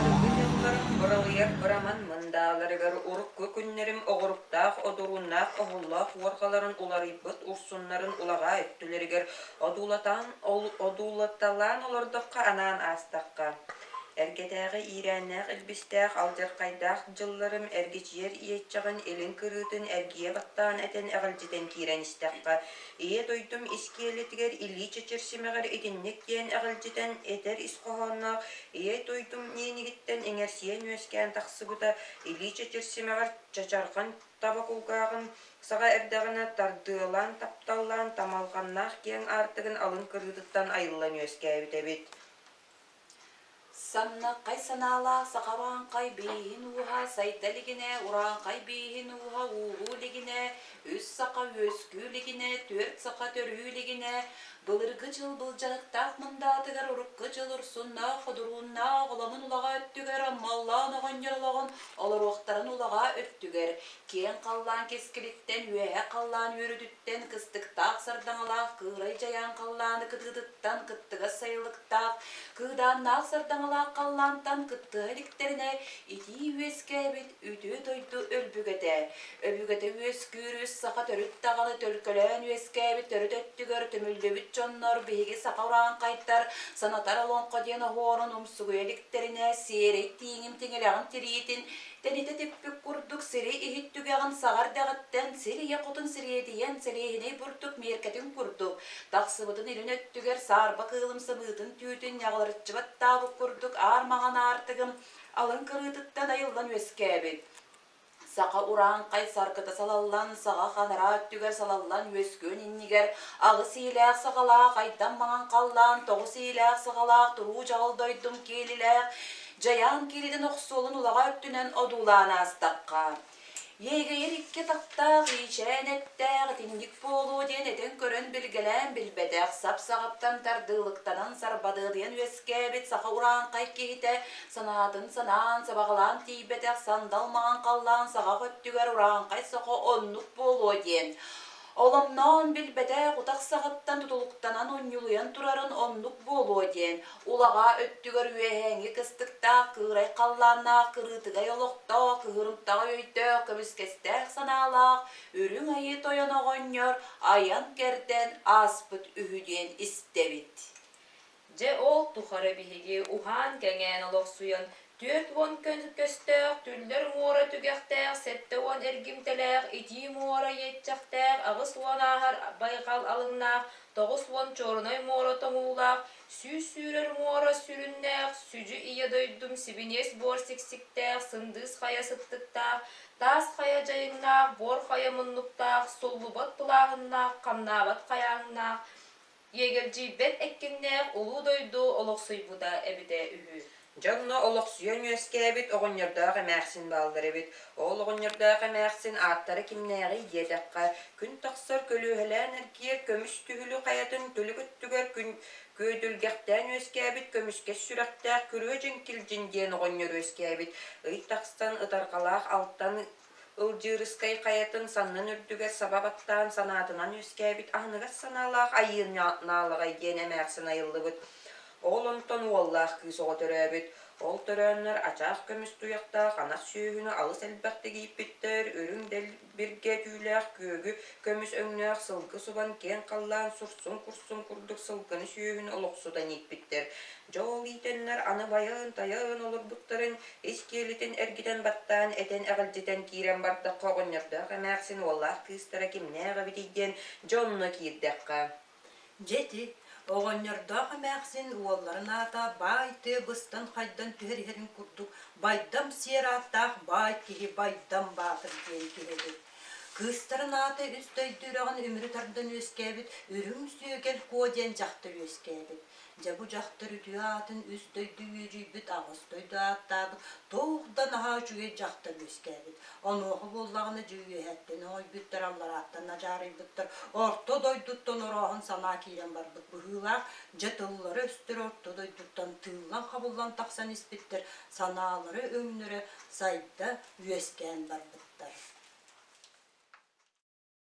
Кыргый дьоннорум быралыйар быраман мындааларыгар урукку күннэрим оҕуруктаах одурууннаах оһоллоох уорҕаларын уларыйбыт урсуннарын улаҕаа өттүлэригэр одуулатаан ол- одуулаталаан олордохха анаан аастахха. Эргэтээҕи иирээннээх илбистээх алдьархайдаах дьылларым эргичийэр иэччэҕин илин кырыытын эргийэ баттаан этэн эҕэлдьитэн киирэн истэххэ Ийэ дойдум искиэлитигэр илии чэчир симэҕэр итинник диэн эҕэлдьитэн этэр ис хоһоонноох ийэ дойдум ниэнигиттэн иҥэрсийэн үөскээн тахсыбыта илии чэчир симэҕэр чачарҕан таба кулгааҕын саҕа эрдэҕинэ тардыалаан тапталлаан тамалҕаннаах киэҥ аартыгын алын кырыытыттан айыллан үөскээбит эбит Самнаккай санаалаах сахалааҥхай бииһин ууһа сайда илигинэ урааҥхай бииһин ууһа ууһуу илигинэ үс саха үөскүү илигинэ түөрт саха төрүү илигинэ былыргы дьыл былдьарыктаах мындаатыгар урукку дьыл урсуннаах худурууннаах оламын улаҕа өттүгэр маллаан оҕонньор олоҕун олоруохтарын улаҕа өттүгэр Киэҥ халлаан кэскилиттэн, үөһэ халлаан үөрүүтүттэн, кыстыктаах сардаҥалаах кыырай дьайаан халлааны кытыытыттан, кыттыгас сайылыктаах, кыыдааннаах сардаҥалаах халлаантан кыттыһа иликтэринэ, итии үөскээбит үтүө дойду өлбүгэтэ, өбүгэтэ үөскүүр үс саха төрүт даҕаны төлкөлөөн үөскээбит төрүт өттүгэр түмүллүбүт дьоннор биһиги саха ураанхайдар санатар олоҥхо диэн оһуорун умсугуйа иликтэринэ, сиэрэй тииҥим тиҥилэҕин тириитин Тэнитэ типпит курдук сири иһит түгэҕин саҕа эрдэҕиттэн сир ийэ хотун сириэдийэн сэлиэһинэй бурдук миэркэтин курдук, тахсыбытын илин өттүгэр саарба кыылым сымыытын түүтүн ньаҕылырчыбат таабык курдук аар маҥан аартыгым алын кырыытыттан айыллан үөскээбит. Саха урааҥхай саргыта салаллан, саҕа ханараа өттүгэр салаллан үөскүөн иннигэр аҕыс иилээх саҕалаах айдам маҥан халлаан, тоҕус иилээх саҕалаах туруу чаҕыл дойдум киэлилээх Дьайаан кииритин охсуолун улаҕа өттүнэн одуулаан аастахха, Иэгэйэр икки атахтаах иичээн эттээх итинник буолуо диэн этэн көрөн билгэлээн билбэтэх сап-саҕыттан тардыылыктанан сарбадыадыйан үөскээбит саха урааҥхай киһитэ санаатын санаан сабаҕалаан тиийбэтэх сандал маҥан халлаан саҕах өттүгэр урааҥхай сохо оннук буолуо диэн Оломноон билбэтэх утах саҕыттан тутулуктанан унньулуйан турарын оннук буолуо диэн, улаҕаа өттүгэр үөһээҥи кыстыктаах кыырай халлааннаах кырыытыгай олохтоох кыһырымтаҕы өйдөөх көмүскэстээх санаалаах Үрүҥ Айыы Тойон оҕонньор айан-кэрдэн ааспыт үһү диэн истэбит. Дьэ ол тухары биһиги уһаан-кэҥээн олохсуйан түөрт уон күн көстөөх Түллэр муора түгэхтээх сэттэ уон эргимтэлээх Итии муора иэччэхтээх аҕыс уон ааһар байҕал алыҥнаах тоҕус уон чоорунай муора тоҥуулаах сүүс сүүрэр муора сүрүннээх сүдьү ийэ дойдум сибиниэс буор сиксиктээх сындыыс хайа сыттыктаах таас хайа дьайыҥнаах буор хайа муннуктаах суллубат пылааһыннаах хамнаабат хайааҥнаах Иэгэлдьийбэт эккиннээх улуу дойду олохсуйбута эбитэ үһү. Дьоҥно олохсуйан үөскээбит оҕонньордоох эмээхсин бааллар эбит. Ол оҕонньордоох эмээхсин ааттара кимнээҕий диэтэххэ, күн тахсар көлүөһэлээн эргиэр көмүс түһүлү хайатын түлүк өттүгэр күн күөдүлгэхтээн үөскээбит көмүскэс сүрэхтээх күрүө дьиҥкил дьин диэн оҕонньор үөскээбит ый тахсан ытарҕалаах алтан Ылдьыырыскай хайатын саннын үрдүгэр саба баттаан санаатынан үөскээбит аһыныгас санаалаах Айыын Наалаҕай диэн эмээхсин айыллыбыт. Ол онтон уоллаах кыыс оҕо төрөөбүт. Ол төрөөннөр ачаах көмүс туйахтаах анар сүөһүнү алыс элбэхтик ииппиттэр, үрүҥ дэлбиргэ түүлээх күөгү көмүс өҥнөөх сылгы субан киэҥ халлаан сурсун курсун курдук сылгыны сүөһүнү олохсутан ииппиттэр. Дьол иитэннэр аны байыан-тайыан олорбуттарын ис киэлитин эргитэн баттаан, этэн эҕэрдьэтэн киирэн бардахха оҕонньордоох эмээхсин уоллаах кыыстара кимнээх эбитий диэн дьонно киирдэххэ, Дьэти, оҕонньордоох эмээхсин уолларын аата баай тыа быстан хайдан түһэр иһэрин курдук байдам сиэр ааттаах баай киһи Байдам Баатыр диэн киһи эбит. Кыыстарын аата үс дойду үрэҕин үмүрү тардан үөскээбит Үрүҥ Сүөкэл Куо диэн дьахтар үөскээбит. Дьэ бу дьахтар үтүө аатын үс дойду үөдьүйбүт аҕыс дойду ааттаабыт туох да наһаа үчүгэй дьахтар үөскээбит. Онуоха буоллаҕына дьэ үөһэттэн оҥойбуттар, алларааттан адьаарыйбыттар, орто дойдуттан орооһон санаа киирэн барбыт быһыылаах, дьэ тыллара-өстөрө орто дойдуттан тыыллан-хабыллан тахсан испиттэр, санаалара өҥнөрө сайда, үөскээн барбыттар.